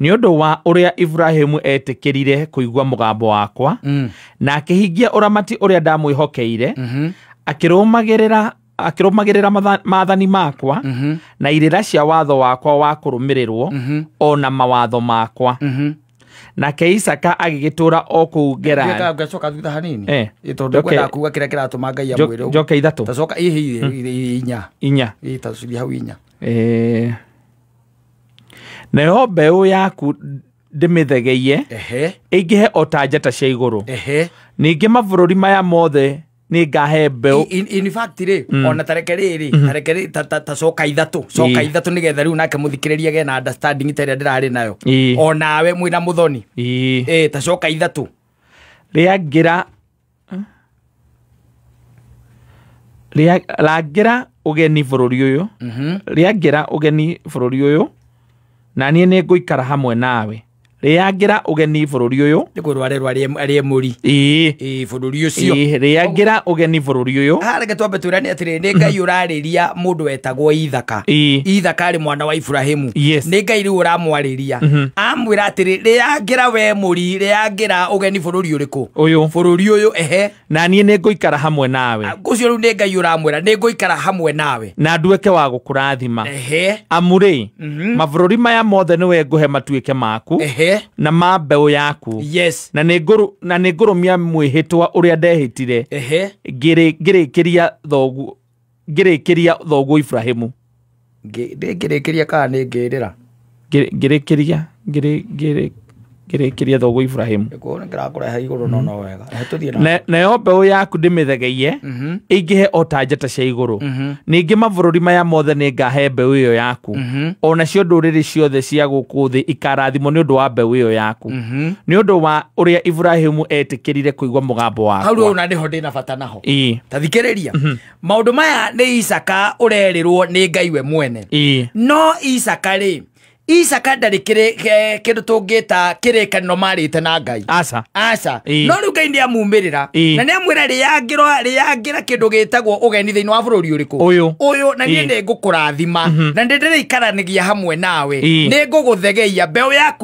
nĩ ũndũ wa ũrĩa Ibrahimu eetĩkĩrire kũigua mũgambo wakwa Mm. na akĩhingia ũramati ũrĩa ndamwĩhokeire Mhm. akĩrũmagĩrĩra akĩrũmagĩrĩra matha- maathani makwa Mhm. na irĩra cia watho wakwa wa kũrũmĩrĩrwo Mhm. o na mawatho makwa Mhm. nake isaka agĩgĩtũũra o kũu Ngeka- gerari ngacoka thutha hanini Eh. Ĩ, tondũ Njoke- kwenda kuga kĩrĩa kĩratũma ngai amwĩre ũguo. njoke ithatũ tacoka ihi inya inya Ĩ, tacithia hau inya Eh, nayo mbeũ yaku ndĩmĩthegeiye ehe ĩingĩhe o ta njata cia igũrũ ehe ningĩ mabũrũri maya mothe nĩ ngahe mbeũ In- in- in fact rä ona tareke rä rä tareke rä ta- ta- ta coka ithatũ coka Ĩ. ithatũ nä getha rä u nake må thikä rä ria gena understanding ta ä rä a ndä rarä nayo Ĩ. onawe mwä na må thoni Ii. Ĩ, ta coka ithatũ rĩa ngira Rĩa- rangĩra ũgeni bũrũri ũyũ rĩangĩra ũgeni bũrũri ũyũ na niĩ nĩ ngũikara hamwe nawe rĩangĩra ũgeni bũrũri ũyũ nĩ kå rwarerwo arä må ri ĩĩ bå rå ri å cio ĩĩ, rĩangĩra ũgeni bũrũri ũyå hareke twambe twä rane atä rä nä ngai å rarä ria må ndå wetagwo ithaka Ĩĩ. ithaka arä mwana wa iburahimu Yes. nä ngai rä u å ramwarä akamũria mhm. amwĩra atĩrĩ rĩangĩra we mũri rĩangĩra ũgeni bũrũri ũrĩkũ ũyũ bũrũri ũyũ ehe na niĩ nĩ ngũikara hamwe nawe ũcio rĩu nĩ ngai ũramwĩra nĩ ngũikara hamwe nawe na nduĩke wa gũkũrathima ehe amu rĩ mhm. mabũrũri maya mothe nĩwe ngũhe matuĩke maku ehe na ma mbeũ yaku yes na nĩ ngũrũ na nĩ ngũrũmia mwĩhĩtwa ũrĩa ndehĩtire ehe ngĩrĩkĩria thoguo ngĩrĩkĩria thoguo Ibrahimu ngĩrĩkĩria kana nĩ ngĩrĩra ngĩrĩkĩria ngĩrĩkĩria thoguo Ibrahimu nayo mbeũ yaku ndĩmĩthegeiye mhm. ĩingĩhe o ta njata cia igũrũ mhm. ningĩ mabũrũri maya mothe nĩ ngahe mbeũ ĩyo yaku mhm. o nacio ndũrĩrĩ ciothe cia gũkũ thĩ ikarathimwo nĩ ũndũ wa mbeũ ĩyo yaku nĩ ũndũ wa ũrĩa Ibrahimu etĩkĩrire kũigua mũgambo wakwa Ii. ta thikĩrĩria maũndũ maya nĩ isaka ũrerĩrwo nĩ ngai we mwene Ii. no isaka rĩ isaka ndarĩ kĩrĩ- ke- kĩndũ tũngĩta kĩrĩkanĩro marĩte na ngai Aca. aca Ĩ. no rĩu ngai nĩ amumĩrĩra Ĩ. na nĩ amwĩra rĩyangĩra rĩyangĩra kĩndũ gĩtagwo ũgeni thĩinĩ wa bũrũri ũrĩkũ Ũyũ. ũyũ na niĩ Ĩ. nĩ ngũkũrathima na nĩ ndĩrĩikaranagia hamwe nawe Ĩ. nĩ ngũgũthegeia mbeũ yaku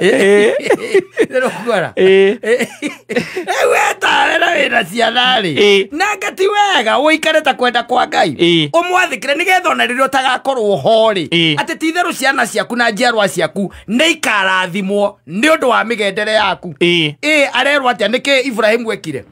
Eh. rero kwara Eh. weta rera wĩra ciana rĩ Eh. nanga ti wega ũikare ta kwenda kwa ngai Eh. ũmwathĩkĩre nĩgetha ona rĩrĩa ũtagakorwo ho rĩ Eh. atĩ ti itherũ ciana ciaku na njiarwa ciaku nĩ ikarathimwo nĩ ũndũ wa mĩgendere yaku Eh. ĩ arerwo atĩa nĩkĩ iburahĩmu ekire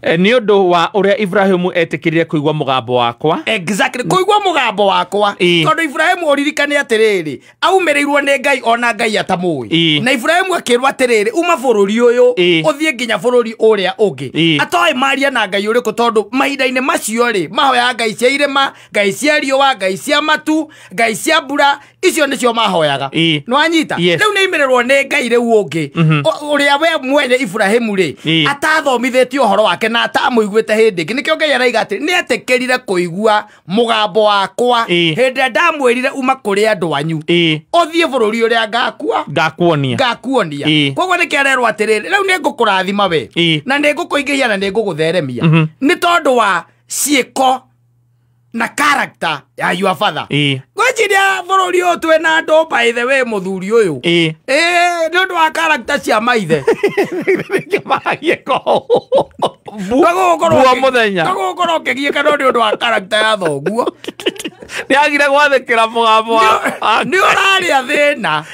Eh, nĩ ũndũ wa ũrĩa ibrahimu etĩkĩrire kũigua mũgambo wakwa exactly kũigua mũgambo wakwa Ĩĩ. tondũ iburahimu ũririkane atĩrĩrĩ aumĩrĩirwo nĩ ngai ona ngai Ĩĩ. atamũĩ na iburahimu akĩrwo atĩrĩrĩ uma bũrũri ũyũ Ĩĩ. ũthiĩ nginya bũrũri ũrĩa ũngĩ Ĩĩ. atoĩ maria na ngai ũrĩkũ tondũ mahinda-inĩ macio rĩ mahoyaga ngai cia irĩma ngai cia riũa ngai cia matu ngai cia mbura icio nĩcio mahoyaga Ĩ. nwanyita Yes. rĩu nĩ imererwo nĩ ngai rĩu ũngĩ Mhm. Ũ- ũrĩa we mwene iburahimu rĩ Ĩ. atathomithĩtie ũhoro wake na atamũiguĩte hĩndĩ ĩngĩ nĩkĩo ngai araiga atĩ nĩ etĩkĩrire kũigua mũgambo wakwa Ĩ. hĩndĩ ĩrĩa ndamwĩrire uma kũrĩ andũ anyu ĩ ũthiĩ bũrũri ũrĩa ngakua ngakuonia ngakuonia Ĩ. koguo nĩkĩ arerwo atĩrĩrĩ rĩu nĩ ngũkũrathima we Ĩ. na nĩ ngũkũingĩhia na nĩ ngũgũtheremia Mhm. nĩ tondũ wa ciĩko na character ya your father ĩ ngwĩciria bũrũri ũyũ twĩ na andũ by the way mũthuri ũyũ ĩ ĩĩ nĩ ũndũ wa character cia maithe kĩmaragia ko Guo mũthenya. kagũgũkorwo ũkĩgiĩka no nĩ ũndũ wa character ya thoguo nĩagire gwathĩkĩra mũgambo wa- wa- nĩ ũrarĩa thĩna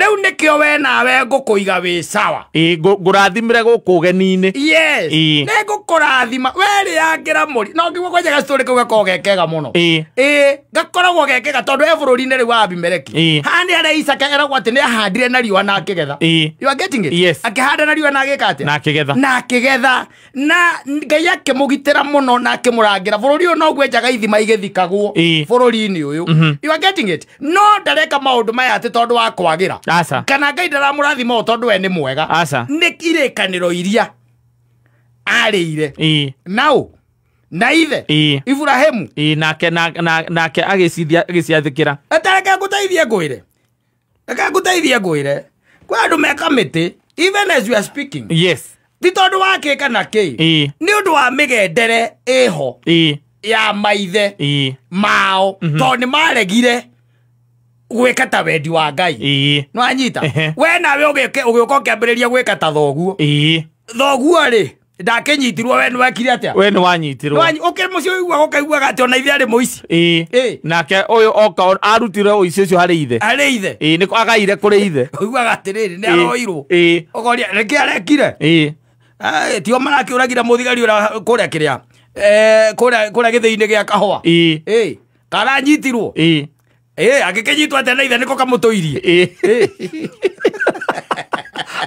rĩu nĩkĩo we nawe ngũkũiga wĩ sawa Ĩ, ngũ- ngũrathimĩre gũkũ ũgeni-inĩ yes Ĩ. nĩ ngũkũrathima werĩangĩra mũri no ngiuo kwenjaga citorĩ kau gakorwo gekega mũno Ĩ. ĩ gakoragwo gekega tondũ e bũrũri-inĩ rĩu wa abimeleki Ĩ. haha nĩ harĩa isaka eragwo atĩ nĩ ahandire na riũa na akĩgetha Ĩ. You are getting it? Yes. akĩhanda na riũa na agĩka atĩa na akĩgetha na akĩgetha na ngai akĩmũgitĩra mũno na akĩmũrangĩra bũrũri ũyũ noguo enjaga ithima igĩthikagwo Ĩĩ. bũrũri-inĩ ũyũ Mhm. you are getting it no ndareka maũndũ maya atĩ tondũ wa kwagĩra aca kana ngai ndaramũrathima ũũ tondũ we nĩ mwega aca nĩ irĩkanĩro iria arĩire ĩĩ naũ na ithe ĩĩ iburahĩmu ĩĩ nake na- na- nake agĩcithia- agĩciathĩkĩra atareke ngũteithie ngwĩre reke ngũteithie ngwĩre kwĩ andũ me kamĩtĩ even as you are speaking yes ti tondũ wakĩ kana kĩ Ĩĩ. nĩ ũndũ wa mĩgendere ĩho ĩĩ ya maithe ĩĩ mao tondũ nĩ maregire gwĩka ta wendi wa ngai ĩĩ nwanyita Ehe. we nawe ũgĩũke- ũgĩũka ũkĩambĩrĩria gwĩka ta thoguo ĩĩ thoguo rĩ ndakinyitirwo we nwekire atia we nä wanyitirwo ukiri muci uiguaga ukaiguaga ati ona ithe ari muici Ĩĩ. Ĩĩ. nake å yå oka o- arutire å ici å cio harä ithe ari ithe Ĩĩ, nĩ agaire kå rä ithe uiguaga atiriri ni Ĩĩ. aroirwo Ĩĩ. ukoria reke arekire Ĩĩ. Eh, tio marakiuragira muthigari ura kuria kiria kuria githii-ini gia kahua Ĩĩ. Ĩĩ. karanyitirwo Ĩĩ. Eh, angä kä nyitwo atä na ithe nä ko kamå tå irie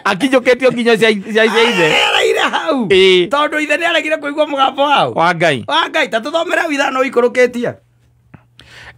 akinyåkä tio nginya cia cia- cia ithe ereire hau Ĩĩ. tondå ithe nä aregire kå igua må gambo wao wa ngai wa ngai ta tå thomere hau ithano ikå rå kä tie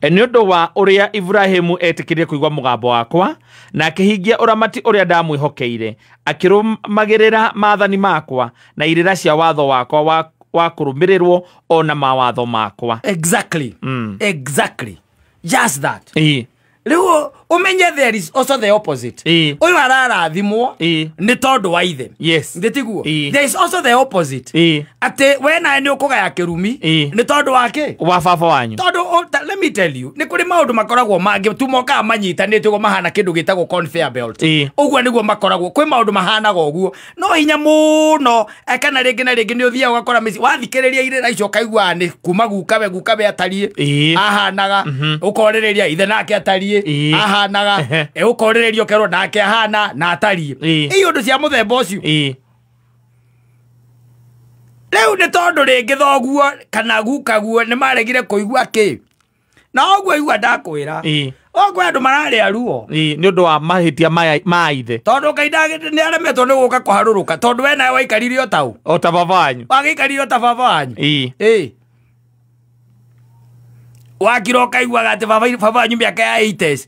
E, nĩ ũndũ wa ũrĩa iburahimu etĩkĩrire kũigua mũgambo wakwa na akĩhingia ũramati ũrĩa ndamwĩhokeire akĩrũmagĩrĩra maathani makwa na irĩra cia watho wakwa wa, wa kũrũmĩrĩrwo o na mawatho makwa exactly Mm. exactly just that ii rĩu ũmenye there is also the opposite Ĩĩ. ũyũ ararathimwo Ĩĩ. nĩ tondũ wa ithe yes ndĩtiguo Ĩĩ. there is also the opposite ii atĩ we nawe nĩ ũkũgaya kĩrumi Ĩĩ. nĩ tondũ wa kĩ wa baba wanyu tondũ o- ta- let me tell you nĩ kũrĩ maũndũ makoragwo mangĩ tu mokaga manyitanĩte ũguo mahana kĩndũ gĩtagwo conveyor belt Ĩĩ. ũguo nĩguo makoragwo kwĩ maũndũ mahanaga ũguo no hinya muno eh, kana rĩngĩ na rĩngĩ nĩ ũthiaga ũgakora mĩciĩ wathikĩrĩria irĩra icio ũkaiguaga nĩ kuma gukawe gukawe atariĩ Ĩĩ. ahanaga ũkorĩrĩria ithe nake atariĩ Ĩĩ. ahanaga Ehe. eh, ũkorĩrĩria ũkerwo nake ahana na atariĩ Ĩĩ. iyo ũndũ cia mũthemba ũcio ĩĩ rĩu nĩ tondũ rĩngĩ thoguo kana gukaguo nĩ maregire kũigua kĩ na ũguo igua ndakwĩra Ĩĩ, ũkwä andå mararä aruo ĩĩ, nĩ ũndũ wa mahĩtia maya- ma ithe tondå ngai nä aremetwo nä gå ka kå harå rå ka tondå we nawe waikarire o tau o ta baba wanyu wagä ikarire o ta baba wanyu Ĩĩ, ä wakira å kaiguaga atä baba wanyu mä aka ya 80s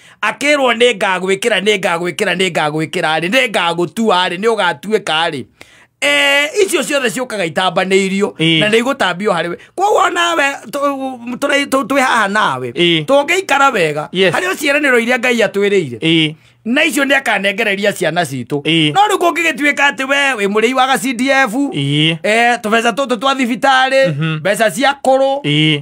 akĩrwo nĩ ngagwĩkĩra nĩ ngagwĩkĩra nĩ ngagwĩkĩra rĩ nĩ ngagũtua rĩ nĩ ũgatuĩka rĩ Eh, icio ciothe ciũkaga itambanĩirio Ĩĩ. na nĩ igũtambio harĩ we koguo nawe tũ- tũrĩ- tũ- twĩ haha nawe Ĩĩ. tũngĩikara wega Yes. harĩ ciĩranĩro iria ngai atwĩrĩire ĩĩ na icio nä akanengereria ciana citå Ĩĩ. no rä kå ngä gä tuä ka atä we wä må rä i wa ga cdf ĩĩ tå beca tå tå twa thibitarä mbeca cia kå rå ĩĩ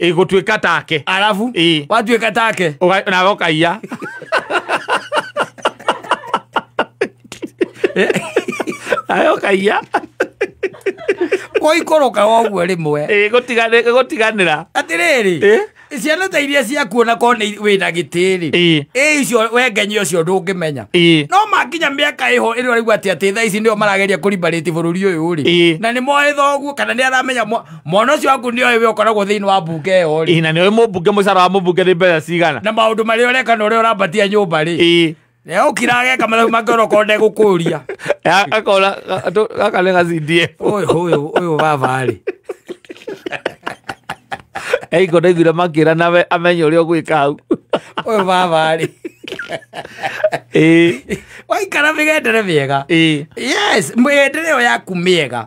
ĩgũtuĩka take arabu Ĩĩ. watuĩka take Ũga- nawe ũkaiya nawe ũkaiya kũikũrũka woguo rĩmwe Ĩĩ, gũtigane- gũtiganĩra atĩrĩrĩ Ĩ? ciana ta iria ciakuona ko nĩ wĩ na gĩtĩrĩ Ĩ. ĩ icio wengenya ũcio ndũngĩmenya Ĩ. no makinya mĩaka ĩho ĩno raigua atĩ atĩ thaa ici nĩo marageria kũrimbarĩti bũrũri ũyũ Ĩ. rĩ na nĩ moĩ thoguo kana nĩ aramenya mo- mwana ũcio waku nĩ oĩ we ũkoragwo thĩinĩ wa mbunge ĩyo rĩ Ĩ, na nĩoĩ mũmbunge mũcara wa mũmbunge nĩ mbeca cigana na maũndũ marĩa ũreka na ũrĩa ũrambatia nyũmba rĩ Ĩ, na ũkira ageka mathabu make ũrokorwo ndegũkũria a- akona ga- tũ- gaka nĩ gacindie ũyũ ũyũ ũyũ baba rĩ eiko ndaiguire makĩra nawe amenye ũrĩa ũgwĩka hau ũyũ baba rĩ Ĩ, waikara mĩgendere mĩega ĩ. yes mĩgendere ĩyo yaku mĩega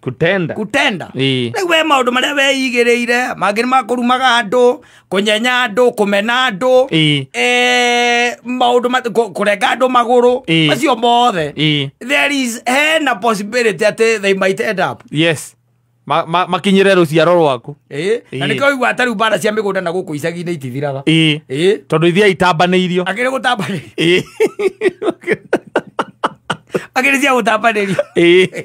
kutenda gũtenda Ĩĩ. rĩu we maũndũ marĩa weigĩrĩire mangĩ nĩ makũrumaga andũ kũnyenya andũ kũmena andũ Ĩĩ. eh, maũndũ ma- kũ- kũrenga andũ magũrũ Ĩĩ. macio mothe Ĩĩ. there is hena possibility atĩ they might end up yes Ma- ma- makinyĩre rũciaro rwaku Ĩĩ. na Ĩĩ. nĩkĩo igua tarĩu mbara cia mĩgũnda na gũkũ icagi-inĩ itithiraga Ĩĩ. Ĩĩ. tondũ ithiä itambanĩirio akĩrĩ gũtambanĩria Ĩĩ. akĩrĩ cia gũtambanĩria Ĩĩ.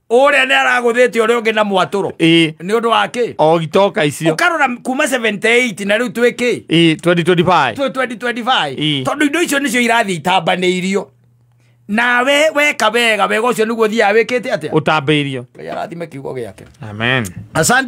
ũrĩa nĩ aragũthĩte ũrĩa ũngĩ na mwatũro ĩĩ nĩ ũndũ wa kĩ o itoka icio ũkarora kuma 78 na rĩu twĩ kĩ ĩĩ 2025 twĩ 2025 Ĩĩ. tondũ indo icio nĩcio irathiĩ itambanĩirio nawe weka wega wega ũcio nĩguo thiaga wĩkĩte atĩa ũtambĩirio ngai arathime kiugo gĩake amen asante